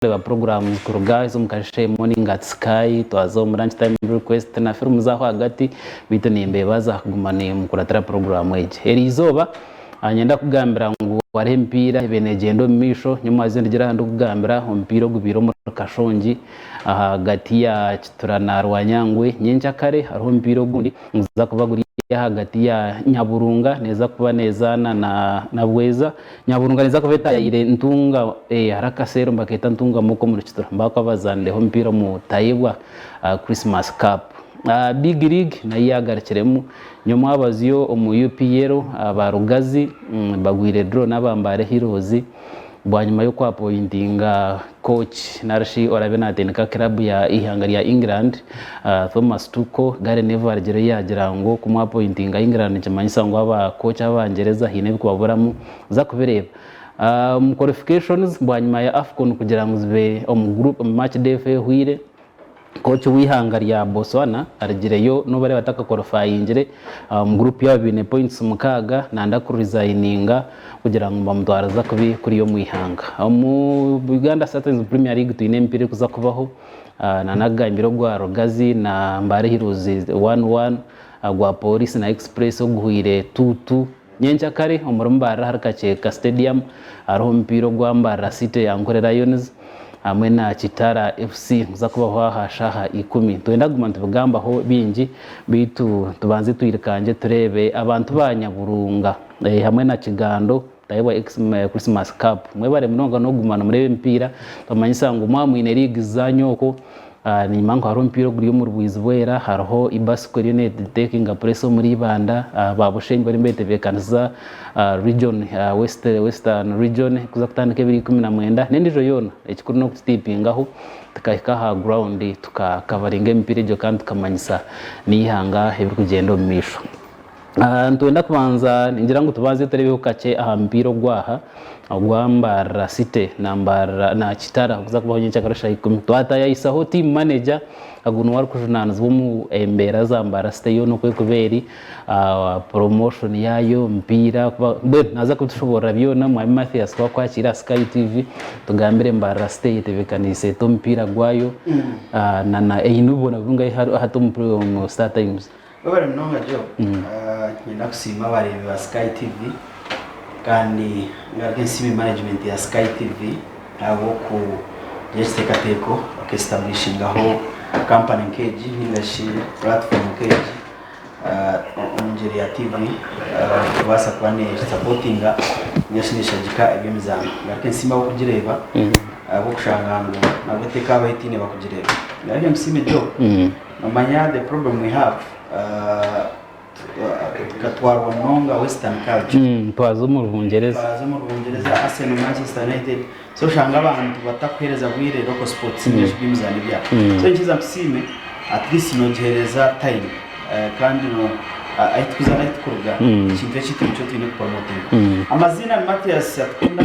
Twareeba puroguraamu kuruga ez'omu kasheeshe, Morning at Sky, twaza omu Lunch Time Request na firimu z'aho ahagati beitu nimbeebaza kuguma nimukuratira puroguraamu egi. Eri izooba nyenda kugambira ngu hariho emipiira ebaire neegyenda omu maisho, nyowe mwazyo ndigira aha ndikugambira omupiira ogubaire omuri Kashongi ahagati ya Kitura na Rwanyangwe. Nyenkya kare hariho omupiira ogundi niguza kuba guri ahagati ya Nyaburunga neeza kuba neezaana na Bweza. Nyaburunga ninza kuba etaayaire ntunga hariho akaseera omu bakeeta ntunga moko omu Rukitura mba bakuba bazaanireho omupiira omu Tayebwa Christmas Cup. Big League nayo yaagarukiremu nyowe mwabazyo omu UPL aba Rugazi bagwire draw n'aba Mbale Heroes bwanyima y'okwapointinga Kooci nari shi oraabe naatendeka kiraabu ya eihanga rya England, Thomas Tuchel, Gary Neville arugirire yaagira ngu kumwapointinga England nikimanyisa ngu aba kooci abangyereza haine ebikubaburamu. Za kubireeba omu qualifications bwanyima ya Afcon kugira ngu zibe omu group match day efa ehweire. Kooki w'eihanga rya Botswana arigireyo nobareeba atakakorifayingire omu guruupu yaabo baine pointisi mukaaga nanda ku rizayininga kugira ngu nibamutwariza kubi kuriya omu eihanga. Omu Uganda Satins Premier League twine emipiira erikuza kubaho nana agambire ogwa Rugazi na Mbale Heroes one one, gwa Police na Express oguhweire tuutu. Nyenkya kare omuri Mbarara ahari Kakyeka Stadium hariho omupiira ogwa Mbarara City ya Nkore Lions hamwe na Kitara FC niguza kubaho aha shaaha ikumi. Nitwenda kuguma nitubigambaho bingi beitu tubanze twirikangye tureebe abantu ba Nyaburunga hamwe na Kigando butahi bwa Christmas Cup. Mwebare munonga n'okuguma nimureeba emipiira. Nibamanyisa ngu mwaba mwine liigi zizaanywa okwo Enyima ngu hariho omupiira oguri omuri bwizi bwera, hariho Ibasiko eriyo netekinga pureesa omuri Ibanda, ba Bushenyi bariyo nibetebeekanisiza region, Western region kuza kutandika ebiro ikumi na mwenda n'endiijo yoona. Ekikuru n'okukitiipingaho tukahika aha ground tukakavaringa emipiira egyo kandi tukamanyisa n'eihanga ebirikugyenda omu maisho. Ah, nitwenda kubanza ningira ngu tubanze tureebeho kakye aha mupiira ogwaha ogwa Mbarara City na Mbarara na Kitara okuza kubaho nyenkya akaro shaaha ikumi twatayayisaho team manager agu niwe arikujunaanizibwa omu embeera za Mbarara City yoona oku erikuba eri ah, promotion yaayo omupiira kuba mbwenu naaza kubitushoboorora byona mwami Mathias twakwakiire aha Sky TV tugambire Mbarara City eyetebekaniise ete omupiira gwayo ah, na na eine obuboona burungi ahi ahi hati omu omu Star Times Webare munonga Joe. Niinyenda kusiima abareebi ba Sky TV kandi ngaruke nsiime management ya Sky TV ahabw'okugira ekiteekateeko baka establishingaho company nk'egi nainga shi platform nk'egi omu ngyeri ya TV kubaasa kuba neesapotinga nainga shi neeshagika eby'emizaano. Ngaruke nsiime ab'okugireeba ahabw'okushanga ngu nabwo tekabaho etaine bakugireeba. Ngaruke nkusiime Joe. Nomanya the problem we have tukatwarwa munonga western culture mm, twaza omu rubungyereza twaza omu rubungyereza arsenal manchester united so oshanga abantu batakuhereza bwire local sports mm. ngeshi by'emizaano byabo mm. so nkiza nkusiime at least nogihereza time uh, kandi no uh, aitukuza naitukuruga mm. ekintu ekitu nikyo twine kupromotinga mm. amaziina ni matias atukunda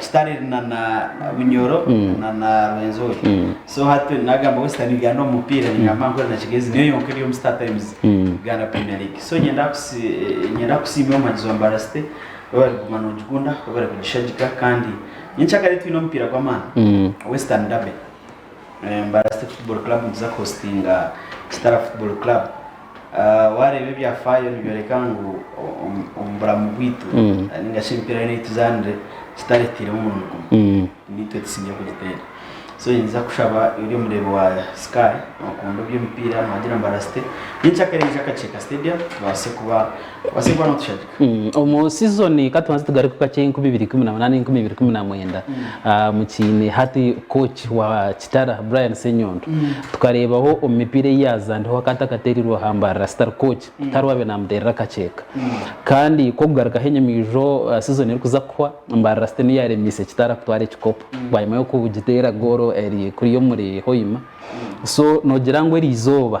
Kitale na na Bunyoro na na Rwenzori. So hati nagamba Western Uganda omu mupiira ningamba nkore na Kigezi niyo yonka eri omu Star Times Uganda Premier League. So nyenda nyenda kusiima omwanizi wa Mbaara City waaba ari kuguma nogikunda waaba ari kugishagika kandi nyenkya kare twine omupiira gw'amaani Western Derby. Mbaara City Football Club niza kuhostinga Kitara Football Club. Waareeba ebyafaayo nibyoreka ngu omu bulamu bwaitu nainga shi emipiira yoona ei tuzaanire tutareeteiremu omurimo gumwe, niitwe tusinzire kugiteera. So ninza kushaba ori omureebi wa Sky nookuunda eby'emipiira noogira ngu Mbarasite nyenkya kare ija Kakyeka Stadium tubaase kuba obaase kuba nootushagika. Omu sizoni ka tubanze tugaruke kakye enkumi ibiri ikumi na munaana enkumi ibiri ikumi na mwenda mukiine hati kooci wa Kitara, Brian Ssenyondo, tukareebaho omu mipiira ei yaazaanireho akaba atakateereirwe aha mbarara, Star Coach, tihariho waabaire naamuteerera akaceeka. Kandi kw'okugarukaho enyimiijo sizoni erikuza kuhwa, Mbarara City niyo yaaremiise Kitara kutwara ekikopo bwanyima y'okugiteera goolo eri kuriya omuri Hoima. So noogira ngu erizooba.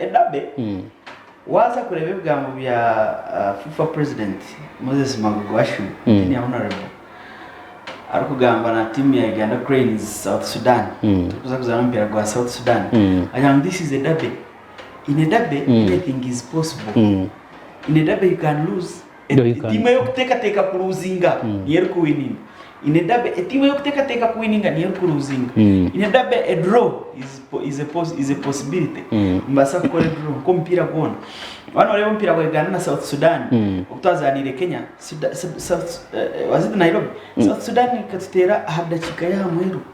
Edabe, Waaza kureeba ebigambo bya FIFA President Moses Mabugwashu, Junior Honourable, arikugamba na tiimu ya Uganda Cranes, South Sudan, turikuza kuzaana omupiira gwa South Sudan, agira ngu this is a derby. In a derby, anything is possible. In a derby you can lose. Etiimu ey'okuteekateeka kuruuzinga niyo erikuwininga. In a derby, etiimu ey'okuteekateeka kuwininga niyo erikuruuzinga. In a derby, a draw is po- is a pos- is a possibility. Nibaasa kukora edraw nk'omupiira gwona. Waaba nooreeba omupiira gwa Uganda na South Sudan, obu twazaaniire Kenya, Suda- Sud- South- eh, eh, was it Nairobi? South Sudan ekatuteera aha dakiika y'aha muheru.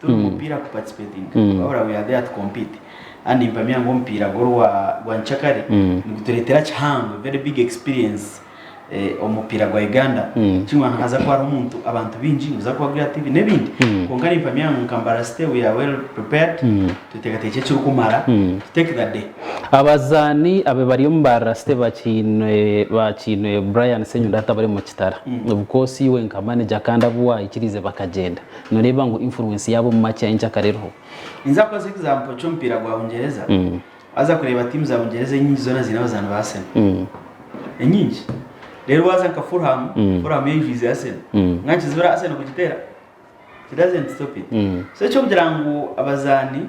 Turi mupiira ku participatinga wabura we are there to compete and mpamya ngu omupiira gwe orwa gwa nyikyakare niguturetera kihango very big experience omu mupiira gwa Uganda kimwe aha haza kuba hariho omuntu abantu bingi noza kuba gura TV nebindi kwonka ni mpamya ngu nka Mbaara City we are well prepared tutekateki ekiri kumara to take the day. Abazaani abe bari omu Mbaara City bakiinwe Brian Senyonda atabari omu kitara of course iwe nka manager kandi abu wahikiriize bakagyenda Noreeba ngu influence yaaba omu match ahi enkyakare eriho? Ninza kukoresa example ky'omupiira gwa Bungyereza. Waaza kureeba tiimu za Bungyereza enyingi zoona ziine abazaani ba Arsenal. Enyingi. Reero waaza nka Fulham, Fulham yo eijwize Arsenal. Mbwenu nikizibira Arsenal kugiteera? It doesn't stop it. So eky'okugira ngu abazaani.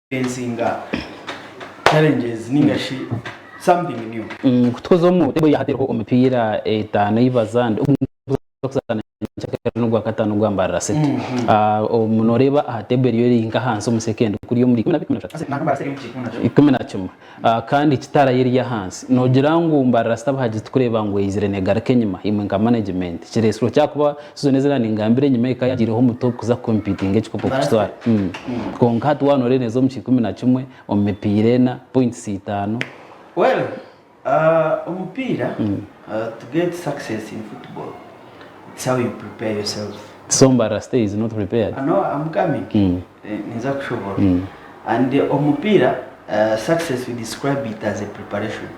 Okufacinga challenges ninga shi something new. Kutukuza omu mutego ya hati eriho omipiira etaano ei bazande ogu nituza kuzaana nyenkyakare na Ogwakataano gwa mbarara sete. Obu noreeba aha table eriyo eri nka ahansi omu second kuri omuri ikumi na bibiri, ikumi na bishatu, ikumi na kimwe. Kandi kitara ye eri ahansi. Nogira ngu mba Rasta buhagiri tukureba ngu eyizire negaruka enyima imwe nka management kiresirwe kyakuba season ezi nangambira enyima eka yagireho omutwe okuza competinga ekikopo kukitwara kwonka hati waba noreba neza omu kikumi na kimwe omu mipiira ena points itano. Well omupiira to get success in football it's how you prepare yourself. So mba Rasta is not prepared? No am coming. Ninza kushobora and omupiira success we describe it as a preparation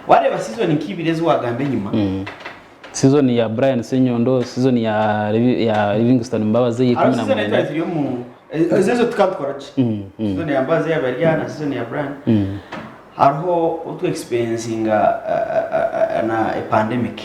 wareeba season nka ibiri ezi wagamba enyima, season ya Brian Senyondo, season ya Livingstone Mbabazi eya ikumi na mwenda, ezo ezo tukaba tukora gye, season ya Mbabazi eyaba eri aha na season ya Brian, hariho obu twa experiencinga na a pandemic.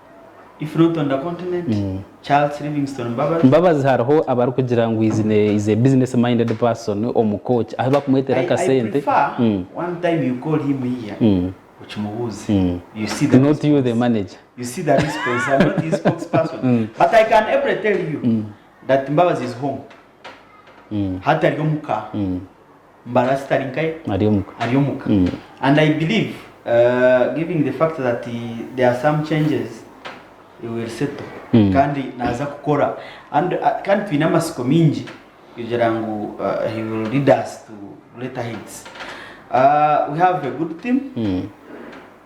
Mbabazi hariho abarikugira ngu is a business minded person omu coach ahu bakumwetera akasente not you the manager. embarasi tari nkaye ari omuka ari omuka mm. and I believe uh, giving the fact that there are some changes he will settle mm. kandi naza kukora and uh, kandi twine amasiko mingi kugira ngu uh, he will lead us to greater heights uh, we have a good team mm.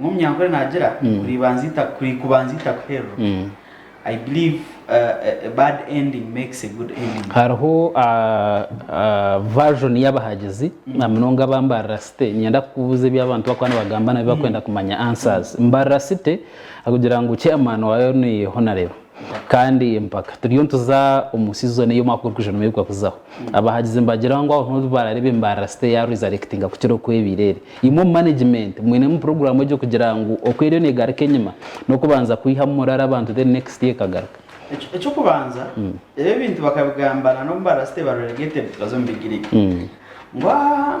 Omunyankore naagira ngu kubanza ita kuhererwa. Hariho version y'abahagizi na munonga aba mbarira site ninyenda kukubuuza ebi abantu bakuba nibagamba nabi bakwenda kumanya answers. Mbarira site akugira ngu chairman waayo ni honarebo. Kandi mpaka turiyo nituza omu season eyi omwaka gurikwija nimuheruka kuzaho. Abahagizi nibagira ngu aho niho oriba orareeba embarara site yaaro ezarectinga kukira oku ebaire eri. Imwe omu management mwinemu program egyo kugira ngu oku eriyo negaruka enyima nokubanza kwihamu morale abantu then next year ekagaruka? Ekyokubanza ebyo ebintu bakabigamba nanomu barasite ba relegated baza omu big league ngu ahaa.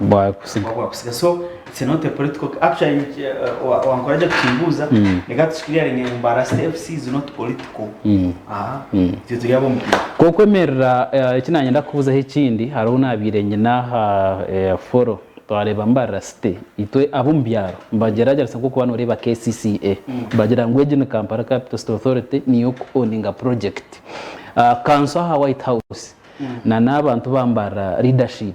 bwakusiga bwakusiga so it's not a political actually uh, wa- wankora gye kukimbuuza Mm. reka tusikiriyaringe ngu mbarasi fc is not political Mm. aha Mm. twe turi ab'omupiira kokwemerera eh, eki nanyenda kubuzaho ekindi hariho nabiire nyina aha eh, foro twareeba mbarira city itwe ab'omu byaro mbagyeragyeresa nk'okuba noreeba kcca bagira ngu egi ni kampala capital city authority niyo ku owninga project Ah, kanso aha white house na n'abantu bambarira leadership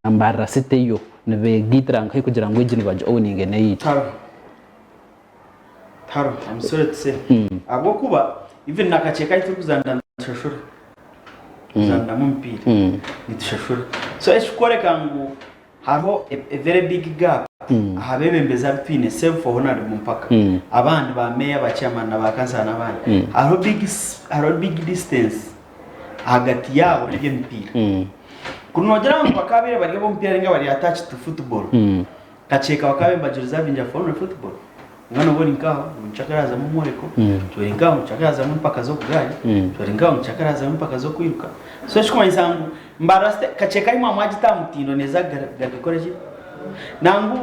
nambarira site eyo nibegaitira nkahi kugira ngu egi niba gi owninge neyaitu. Taro taro am sorry to say ahabwokuba even na kace kahi turi kuzanira nitushashura kuzaniramu omupiira nitushashura so ekiri kworeka ngu hariho a very big gap aha bebembezi abu twine save for honarable mpaka abandi ba mayor ba chairman na ba councillor na abandi hariho big hariho big distance ahagati yaabo nari emipiira. Ku noogira ngu bakaabaire bari ab'omupiira nainga bari attached to football, nkakyeeka bakaabaire nibagireservingira for only football. Konka nooba ori nkaaho, ngu nikikira kuhazamu omworeko, ngu ori nkaaho, ngu nikikira kuhazamu empaka z'obugaari, ngu ori nkaaho, ngu nikikira kuhazamu empaka z'okwiruka. So ekirikumanyisa ngu. Mbarira se kaceeka imwe amwagita aha mutindo neeza gagikore ki? Nangwa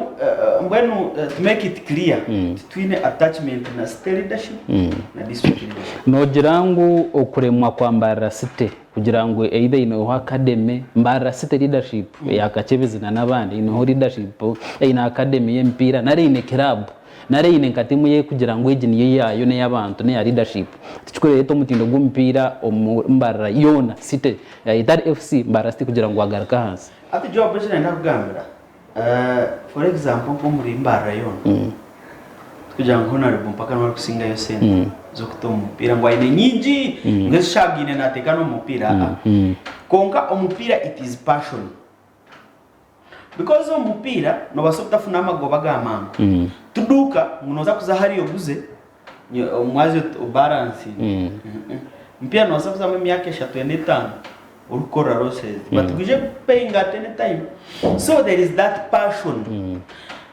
mbwenu to make it clear titwine attachment na City leadership na District leadership. Noogira ngu okuremwa kwa Mbarira City kugira ngu either eineho academy, Mbarira City leadership eya Kakyebezi na n'abandi eineho leadership, eine academy y'emipiira nari eine kiraabu. Nari aine enkata emwe y'ekugira ngu egi niyo yaayo n'ey'abantu n'eya leadership. Tikirikureeta omutindo gw'omupiira omu Mbarara yoona. City yaayeta ahari FC Mbarara City kugira ngu agaruke ahansi. Hati Joab eki nayenda kugambira, for example nk'omuri Mbarara yoona, tikugira ngu Honarebo mpaka niwe arikusingayo sente z'okuta omu mupiira ngu aine nyingi ngu ezishagaine naateeka n'omu mupiira, aa. Kwonka omupiira it is passion. Because omu mupiira nobaasa obutafuna amagoba ga mangu. Tiduuka ngu noza kuza hariya oguze omwazi oti obaransinge. Omupiira nobaasa kuzamu emyaka eshatu ena etaano orikukorera losezi but gwije gukupeyinga at any time. So there is that passion.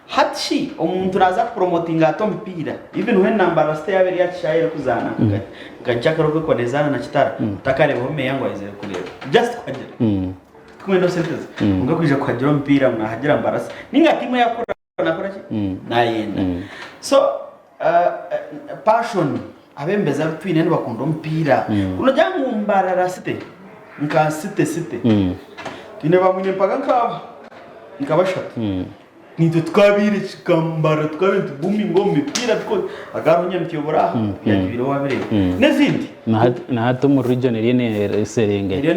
Hati shi omuntu naaza kupuromotinga ata omupiira even when Nambaara City yaaba eri aha kishaayi erikuzaana nka nka Chakra oku erikuba neezaana na Kitara, otakareebaho meeya ngu aizire kureeba. Just kuhagira. Tikumwenda sente ze kwonka kwija kuhagira omupiira nahagira mbarasi ninga tiimu eyakukora nakora ki nayenda so passion abembezi abitwine nibakunda omupiira ku nogira ngu mbarara city nka city city twine ba mwine mpaga nka aba nka bashatu. Naitwe tukaabaire kika mbara tukaabaire nituguminga omu mipiira tukore aga hariho Nyamitwe buri aha yaagibaire waabireeba n'ezindi. Na hati omu region eriyo neeserengeta. Eriyo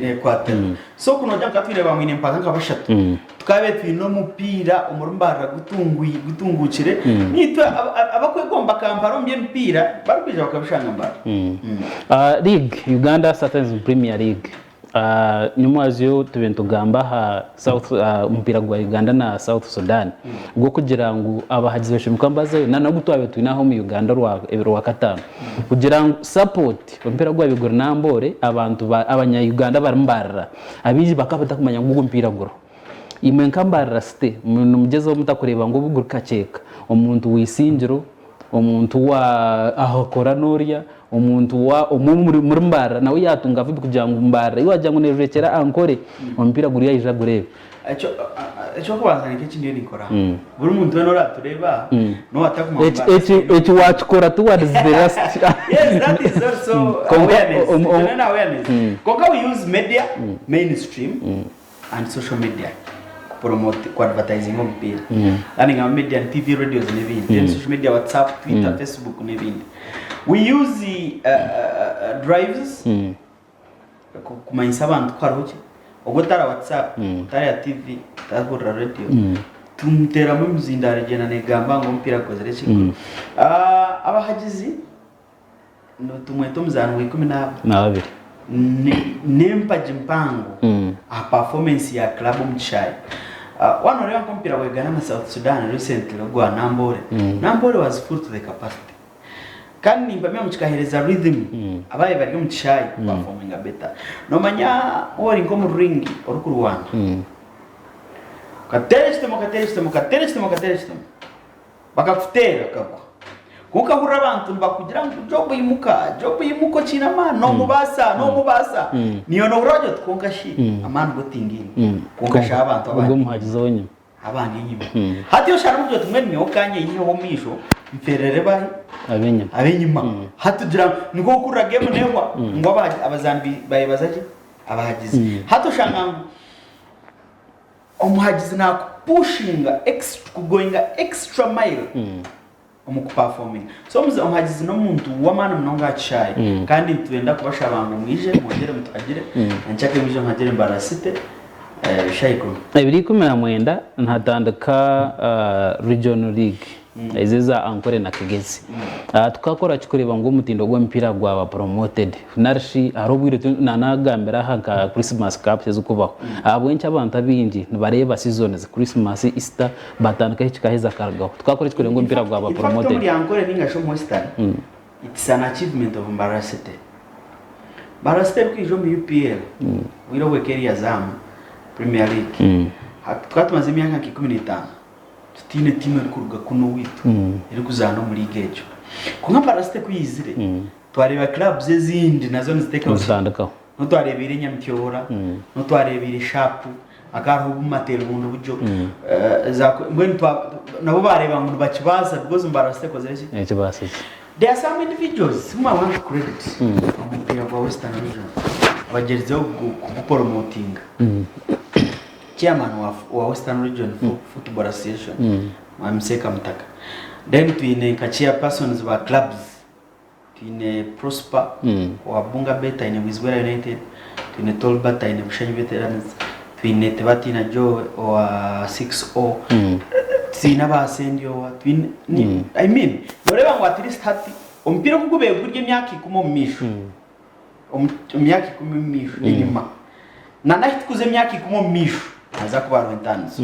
neekwatiramu. So ku noogira ngu twine baamwine mpaaka nka bashatu tukaabaire twine omupiira omuri mbarara gutunguukire naitwe abakwegomba Kampala omu by'emipiira barikwija bakabishanga mbarara. League, Uganda Satans Premier League. Nimwazyo tube nitugamba aha mupiira gwa Uganda na South Sudan gw'okugira ngu abahagizi bashemereire kuba nibazayo nana ogu twabaire twine aha omu Uganda orwakataano kugira ngu sapooti omupiira gwaabaire guri Namboole abantu Abanya-Uganda barimu barira abaingi bakaba batakumanya ngu ogu omupiira guriho. Imwe nka mbarira site nimugyezaho muta kureeba ngu obuguri kaceeka omuntu w'eisingiro, omuntu wa ahakora n'orya, omuntu wa omwe muri mbarira nawe yaatunga vibi kugira ngu mbarira ei waagira ngu neejwekyera aha nkore omupiira guriyo aije agureebe. Eky'okubanza nikyo eki ndiyo ninkora. Hmm. Buri muntu weena oraatureeba hmm. n'owa atakuguma mu mbarira. Eki waakikora ti warizibira siti. Yes, that is also awareness. Konka we use media mainstream and social media ku promote ku advertising omupiira kandi nka media ni tv radios n'ebindi then social media whatsapp twitter facebook n'ebindi we use uh, uh, uh, drives ku- kumanyisa abantu ko hariho ki obwo tara whatsapp tara tv tahurira radio tumuteeramu emizindaaro egyenda negamba ngu omupiira gukozire ki Ah, abahagizi tumwete omuzaano wa ikumi n'abiri n'empagi mpango aha pafomensi ya club omu kishaayi waaba nooreeba nk'omupiira gwa Uganda na South Sudan recently ogwa Namboole, Namboole was full to the capacity kandi nimpamya ngu kikaheereza rythm abaabaire bari omu kishaayi ku pafominga better. Noomanya waaba ori nk'omu ring orikurwana okateera ekitemo okateera ekitemo okateera ekitemo okateera ekitemo. Bakakuteera okagwa. Kwonka hurira abantu nibakugira ngu, Jobu imuka, Jobu imuka okiine amaani, noomubaasa, noomubaasa. Niiwe noohurira waagira oti, Kwonka shi, amaani go tingaine. Kwonka shi abantu abandi enyima, abandi enyima. Hati oshange ogira oti, Mbwenu nyowe ka nyeyiheho omumaisho, mferere bari ab'enyima. Hati ogira ngu nikwo kuhurira geemu neehwa, ngu abazaani bayebaza ki? Abahagizi. Hati oshanga ngu. Omuhagizi nakupushinga extra kugoinga extra mile omu kupafominga. So omuze omuhagizi n'omuntu w'amaani munonga aha kishaayi kandi nitwenda kubashaba ngu mwije mwongere mutuhagire enkyakare mwije muhagire Mbaara City ebishayi ikumi. Ebiri ikumi na mwenda nihatandika Regional League. Ezo eza Ankore na Kigezi tukakora ki kureeba ngu omutindo gw'emipiira gwaba promoted narishi hariho obwire nanagambira aha nka Christmas Cups ezikubaho ahabw'enki abantu abaingi nibareeba seasons Christmas, Easter batandika ahi kikaheza akarugaho tukakora ki kureeba ngu omupiira gwaba promoted. In fact omuri Ankore ninga shi omu Western it's an achievement of Mbarara City. Mbarara City erikwija omu UPL obwire obwe Keria Zaamu Premier League tukaba tumaze emyaka nka ikumi na etaano. Tutaine tiimu erikuruga kunu owaitu erikuzaana omu liiga egyo. Kwonka Parasite ku yaizire, twareeba clubs ezindi nazo niziteekaho tiimu. N'obu twareebeire Nyamityobora, n'obu twareebeire Sharp, hakaba hariho Bumateere bundi buryo. Mbwenu nabo baareeba ngu nibakibaasa because ngu Parasite ekozire ki? Ekibaasa ki? There are some individuals whom I want to credit omu mupiira gwa Western Region abagyerizeho kugupromotinga. Chairman wa wa Western Region Football Association Mwami Seeka Mutaka. Then twine nka chairpersons ba clubs. Twine Prosper owa Bunga Bet aine Bwizibwera United, twine Tolbert aine Bushenyi Veterans, twine Tibatiina Joe owa 6O, twine aba Sendyowa, twine ni- I mean, nooreeba ngu at least hati omupiira oku gubaire guri emyaka ikumi omu maisho, omu omu myaka ikumi omu maisho enyima, nana ahi tukuza emyaka ikumi omu maisho, haza kubaho entaniso.